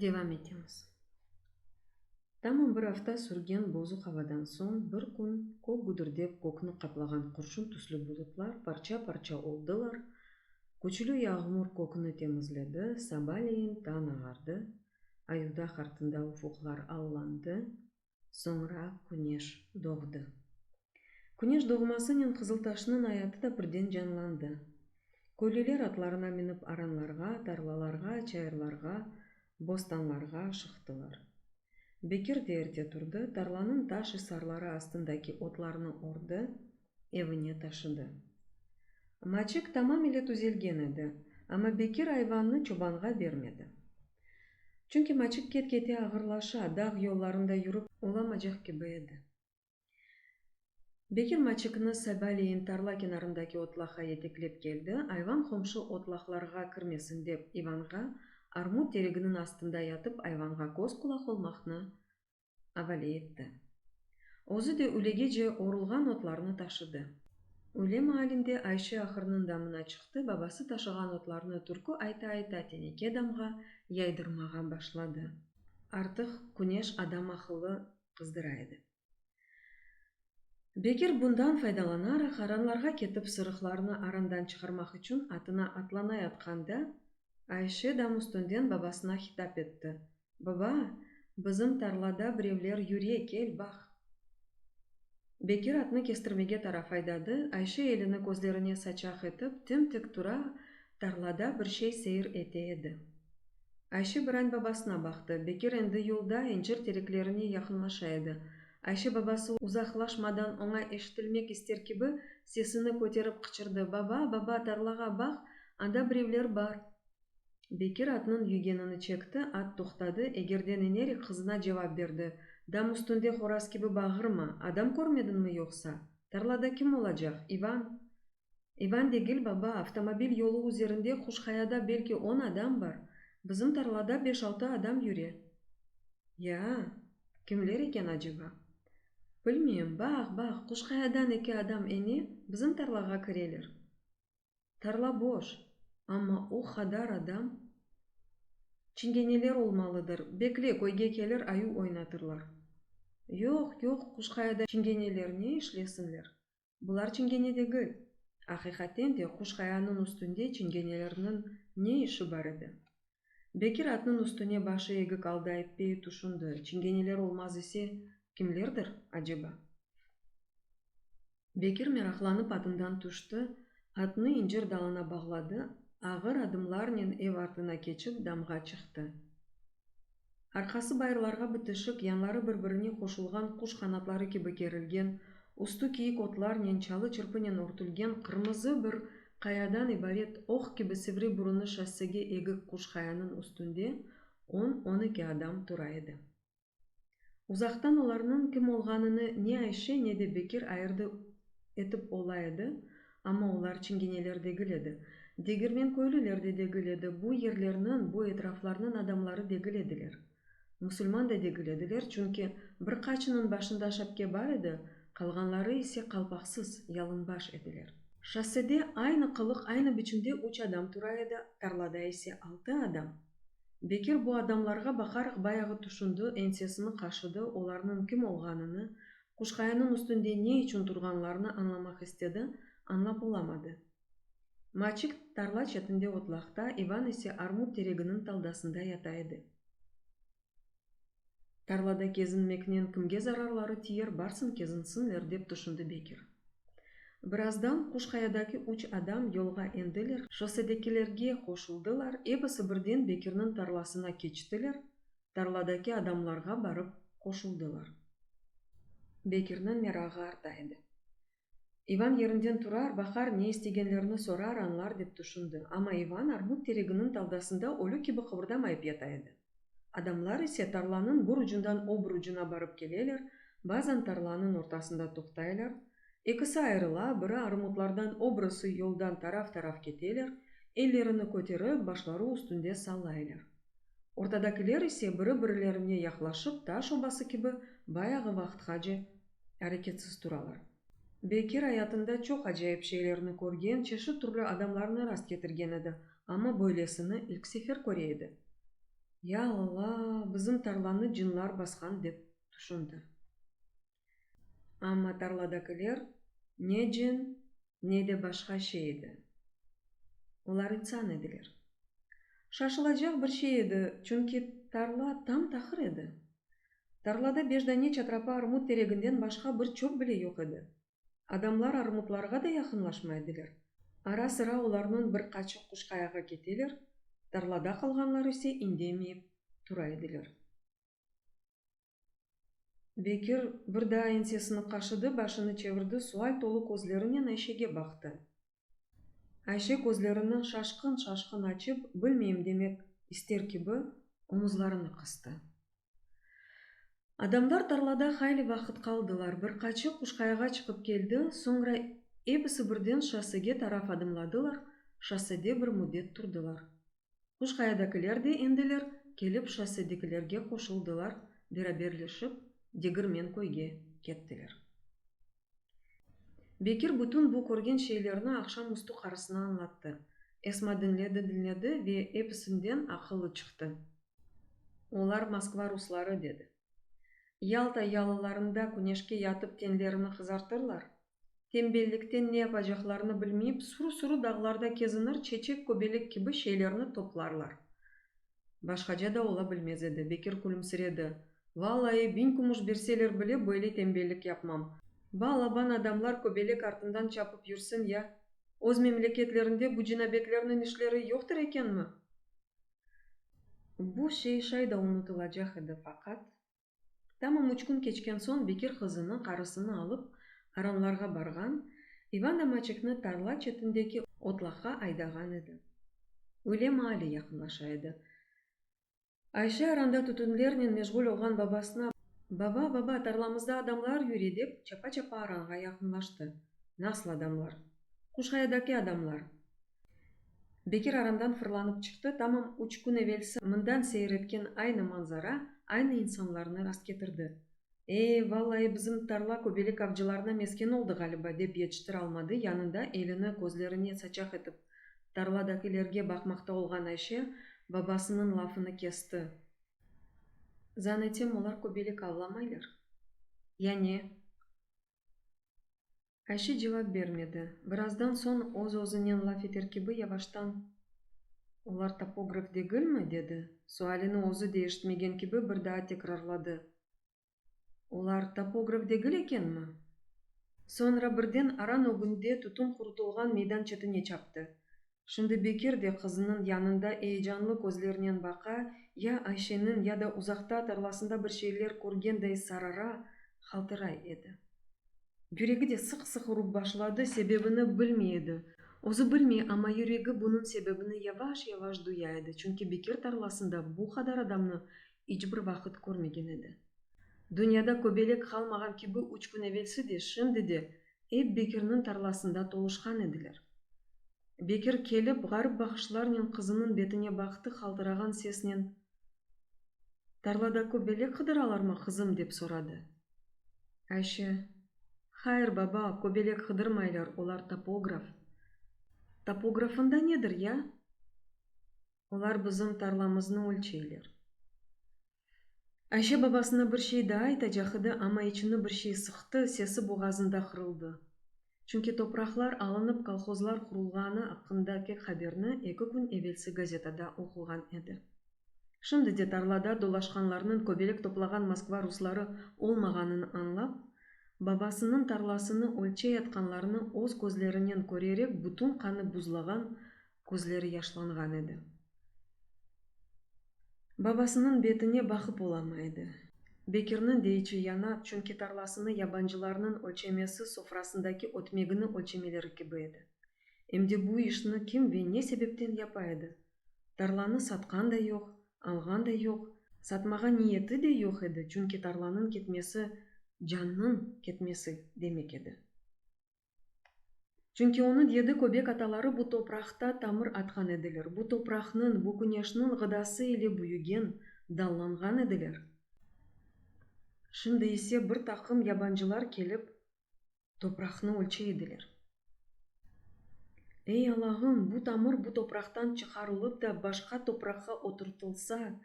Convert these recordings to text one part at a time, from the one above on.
Devam etemiz. Tamam bir afta sürgen bozuq avadan soñ bir kün köp güdirdep kökni qaplağan qurşun tüslü bulutlar parça-parça oldılar, küçlü yağmur kökni temizledi, sabaleyin tañ ağardı, ayudaq artında ufuqlar allandı, soñra küneş doğdı. Küneş doğmasınen Qızıltaşnıñ ayatı da birden canlandı. Köylüler atlarına minip aranlarğa, tarlalarğa, çayırlarğa, bostanlarğa şıqtılar. Bekir de erte turdı, tarlanıñ taş isarları astındaki otlarnı ordı, evine taşıdı. Maçek tamam ile tüzelgen edi, amma Bekir ayvannı çobanğa bermedi. Çünki Maçek ket-kete ağırlaşa, dağ yollarında yürip olamacaq kibi edi. Bekir Maçekni sabaleyin tarla kenarındaki otlağa yeteklep keldi, ayvan qomşu otlağlarğa kirmesin dep İvanğa, armut tereginiñ astında yatıp ayvanğa köz-qulaq olmaqnı avale etti. Özü de ülegece orulğan otlarnı taşıdı. Öyle maalinde Ayşe ahırnıñ damına çıqtı, babası taşığan otlarnı türkü ayta-ayta teneke damğa yaydırmağa başladı. Artıq küneş adam aqılı qızdıra edi. Bekir bundan faydalanaraq, aranlarğa ketip sırıqlarnı arandan çıqarmaq içün atına atlanayatqanda, Ayşe dam üstünden babasına hitap etti, Baba, bizim tarlada birevler yüre, kel, baq! Bekir atnı kestirmege taraf aydadı, Ayşe elini közlerine saçaq etip, tim-tik tura, tarlada bir şey seyir ete edi. Ayşe birañ babasına baqtı. Bekir endi yolda, incir tereklerine yaqınlaşa edi. Ayşe babası uzaqlaşmadan oña eşitilmek ister kibi sesini köterip qıçırdı, Baba, baba, tarlağa baq, anda birevler bar! Bekir atnıñ yügenini çekti, at toqtadı, egerden enerik qızına cevap berdi, Dam üstünde horaz kibi bağırma, adam körmediñmi yoqsa? Tarlada kim olacaq, İvan? İvan degil, baba, avtomobil yolu üzerinde Quşqayada belki on adam bar, bizim tarlada beş-altı adam yüre. Ya, kimler eken aceba? Bilmeyim, baq, baq, Quşqayadan eki adam ene, bizim tarlağa kireler. Tarla boş, amma o qadar adam. Çingeneler olmalıdır. Bekle, köyge kelir, ayu oynatırlar. Yoq, yoq, Quşqayada çingeneler ne işlesinler? Bular çingene degil. Aqiqaten de, Quşqayanıñ üstünde çingenelerniñ ne işi bar edi? Bekir atnıñ üstüne başı egik alda eppeyi tüşündi, çingeneler olmaz ise, kimlerdir, aceba? Bekir meraqlanıp atından tüşti, atnı incir dalına bağladı, ağır adımlarnen ev artına keçip damğa çıqtı. Arqası bayırlarğa bitişik, yanları bir-birine qoşulğan quş qanatları kibi kerilgen, üstü kiyik otlarnen, çalı çırpınen örtülgen qırmızı bir qayadan ibaret oq kibi sivri burunı şossege egik quş qayanıñ üstünde on, on eki adam tura edi. Uzaqtan olarnıñ kim olğanını ne Ayşe, ne de Bekir ayırdı etip ola edi, Amma olar çingeneler degil edi. Degirmenköylüler de degil edi, bu yerlerniñ, bu etraflarnıñ adamları degil ediler. Musulman da degil ediler, çünki bir qaçınıñ başında şapke bar edi, qalğanları ise qalpaqsız, yalınbaş ediler. Şossede aynı qılıq, aynı biçimde üç adam tura edi, tarlada ise altı adam. Bekir bu adamlarğa baqaraq bayağı tüşündi, ensesini qaşıdı, olarnıñ kim olğanını, Quşqayanıñ üstünde ne içün turğanlarını añlamaq istedi, añlap olamadı. Maçik tarla çetinde otlaqta, İvan ise armut tereginiñ taldasında yata edi. Tarlada kezinmeknen kimge zararları tiyer, barsın kezinsinler, dep tüşündi Bekir. Birazdan Quşqayadaki üç adam yolğa endiler, şossedekilerge qoşuldılar, ebisi birden Bekirniñ tarlasına keçtiler, tarladaki adamlarğa barıp qoşuldılar. Bekirniñ merağı arta edi. İvan yerinden turar, baqar, ne istegenlerini sorar, añlar dep tüşündi. Amma İvan armut tereginiñ taldasında ölü kibi qıbırdamayıp yata edi. Adamlar ise tarlanıñ bir ucundan öbür ucuna barıp keleler, bazan tarlanıñ ortasında toqtaylar, ekisi ayırıla, biri armutlardan, öbürisi yoldan taraf-taraf keteler, ellerini köterip, başları üstünde sallaylar. Ortadakiler ise biri-birilerine yaqlaşıp taş obası kibi bayağı vaqıtqace areketsiz turalar. Bekir ayatında çoq acayip şeylerni körgen, çeşit türlü adamlarnı rast ketirgen edi, amma böylesini ilk sefer köre edi. Ya Alla, bizim tarlanı cinlar basqan dep tüşündi. Amma tarladakiler ne cin, ne de başqa şey edi. Olar insan ediler. Şaşılacaq bir şey edi, çünki tarla tam-tahır edi. Tarlada beş dane çatrapa armut tereginden başqa bir çöp bile yoq edi. Adamlar armutlarğa da yaqınlaşmay ediler. Ara-sıra olarnıñ bir qaçı quşqayağa keteler, tarlada qalğanlar ise indemeyip tura ediler. Bekir bir daa ensesini qaşıdı, başını çevirdi, sual tolu közlerinen Ayşege baqtı. Ayşe közlerini şaşqın-şaşqın açıp, bilmeyim demek ister kibi, omuzlarını qıstı. Adamlar tarlada hayli vaqıt qaldılar. Bir qaçı Quşqayağa çıqıp keldi, soñra episi birden şossege taraf adımladılar, şossede bir müddet turdılar. Quşqayadakiler de endiler kelip şossedekilerge qoşuldılar, beraberleşip Degirmenköyge kettiler. Bekir bütün bu körgen şeylerni aqşam üstü qarısına añlattı. Esma diñledi-diñledi ve episinden aqılı çıqtı. Olar Moskva rusları, dedi. Yalta yalılarında küneşke yatıp tenlerini qızartırlar, tembellikten ne yapacaqlarını bilmeyip, suru-suru dağlarda kezinir çeçek, köbelek kibi şeylerni toplarlar. Başqaca da ola bilmez edi. Bekir külümsiredi. Vallayı, biñ kümüş berseler bile, böyle tembellik yapmam. Va alaban adamlar köbelek artından çapıp yürsin ya! Öz memleketlerinde bu cinabetlerniñ işleri yoqtır ekenmi? Bu şey şay da unutılacaq edi, faqat. Tamam üç kün keçken soñ Bekir qızını, qarısını alıp, aranlarğa barğan, İvan Amaçekni tarla çetindeki otlaqqa aydağan edi. Öyle maali yaqınlaşa edi. Ayşe aranda tütünlernen meşğul olğan babasına, Baba, baba, tarlamızda adamlar yüre, dep, çapa-çapa aranğa yaqınlaştı. Nasıl adamlar? Quşqayadaki adamlar. Bekir aramdan fırlanıp çıqtı, tamam üç kün evelsi mından seyir etken aynı manzara, aynı insanlarnı rastketirdi. E, vallayı bizim tarla köbelek avcılarına mesken oldı ğaliba, dep yetiştire almadı yanında elini közlerine saçaq etip tarladakilerge baqmaqta olğan Ayşe babasınıñ lafını kesti. Zannetem olar köbelek avlamaylar. Ya ne? Ayşe cevap bermedi. Birazdan soñ öz-özünen laf eter kibi yavaştan, Olar topograf degilmi? dedi. Sualini özü de eşitmegen kibi bir daa tekrarladı, Olar topograf degil ekenmi? Soñra birden aran ögünde tütün qurutılğan meydan çetine çaptı. Şimdi Bekir de qızınıñ yanında eyecanlı közlernen baqa, ya Ayşeniñ ya da uzaqta tarlasında bir şeyler körgenday sarara, haltıray edi. Yüregi de sıq-sıq urıp başladı, sebebini bilmey edi. Özü bilmey, amma yüregi bunıñ sebebini yavaş-yavaş duya edi, çünki Bekir tarlasında bu qadar adamnı iç bir vaqıt körmegen edi. Dünyada köbelek qalmağan kibi üç kün evelsi de, şimdi de ep Bekirniñ tarlasında toluşqan ediler. Bekir kelip, ğarip baqışlarnen qızınıñ betine baqtı, qaltırağan sesnen, Tarlada köbelek qıdıralarmı, qızım? dep soradı. Ayşe, Hayır, baba, köbelek qıdırmaylar, olar topograf. Topografında nedir, ya? Olar bizim tarlamıznı ölçeyler. Ayşe babasına bir şey daa aytacaq edi, amma içini bir şey sıqtı, sesi boğazında qırıldı. Çünki topraqlar alınıp kolhozlar qurulğanı aqqındaki haberni eki kün evelsi gazetada oquğan edi. Şimdi de tarlada dolaşqanlarnıñ köbelek toplağan Moskva rusları olmağanını añlap, babasınıñ tarlasını ölçeyatqanlarını öz közlerinen körerek bütün qanı buzlağan Közleri yaşlanğan edi. Babasınıñ betine baqıp olamay edi. Bekirniñ de içi yana, çünki tarlasını yabancılarnıñ ölçemesi sofrasındaki ötmegini ölçemeleri kibi edi. Em de bu işni kim ve ne sebepten yapa edi? Tarlanı satqan da yoq, alğan da yoq, satmağa niyeti de yoq edi, çünki tarlanıñ ketmesi, cannıñ ketmesi demek edi. Çünki onıñ yedi köbek ataları bu topraqta tamır atqan ediler, bu topraqnıñ, bu küneşniñ ğıdası ile büyügen, dallanğan ediler. Şimdi ise bir taqım yabancılar kelip, topraqnı ölçey ediler. Ey, Alağım, bu tamır bu topraqtan çıqarılıp da başqa topraqqa oturtılsa,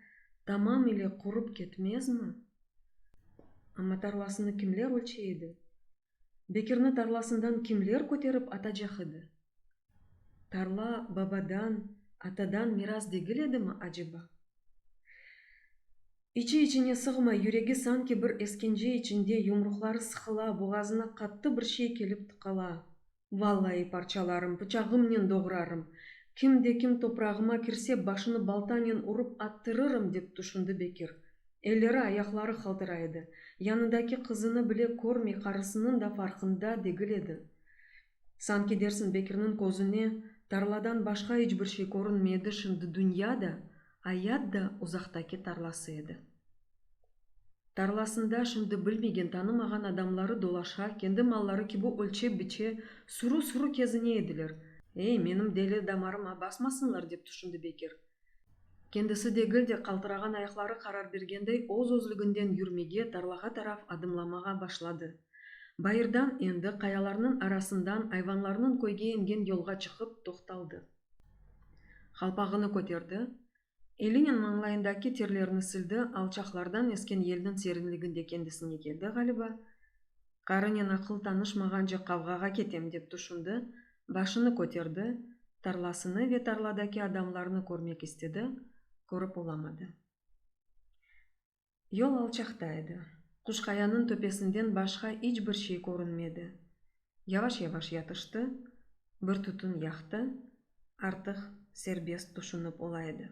tamam ile qurıp ketmezmi? Amma tarlasını kimler ölçey edi? Bekirni tarlasından kimler köterip atacaq edi? Tarla babadan, atadan miras degil edimi aceba? İçi-içine sığmay, yüregi sanki bir esgence içinde, yumruqları sıqıla, boğazına qattı bir şey kelip tıqala. Vallayı parçalarım, pıçağımnen doğrarım. Kim de kim toprağıma kirse, başını baltanen urup attırırım, dep tüşündi Bekir. Elleri, ayaqları qaltıra edi. Yanındaki qızını bile körmey, qarısınıñ da farqında degil edi. Sanki dersiñ Bekirniñ közüne tarladan başqa iç bir şey körünmey edi, şimdi dünya da, ayat da uzaqtaki tarlası edi. Tarlasında şimdi bilmegen, tanımağan adamları dolaşa, kendi malları kibi ölçe-biçe, sürü-sürü kezine ediler. Ey, menim deli damarıma basmasınlar, dep tüşündi Bekir. Kendisi degil de, qaltırağan ayaqları qarar bergendey, öz-özlüginden yürmege, tarlağa taraf adımlamağa başladı. Bayırdan endi, qayalarnıñ arasından ayvanlarnıñ köyge ingen yolğa çıqıp toqtaldı. Qalpağını köterdi. Elinen mañlayındaki terlerini sildi, alçaqlardan esken yelniñ serinliginde kendisine keldi ğaliba, qarınen aqıl tanışmağance qavğağa ketem dep tüşündi, başını köterdi, tarlasını ve tarladaki adamlarnı körmek istedi, körip olamadı. Yol alçaqta edi. Quşqayanıñ töpesinden başqa iç bir şey körünmedi. Yavaş-yavaş yatıştı, bir tütün yaqtı, artıq serbest tüşünip ola edi.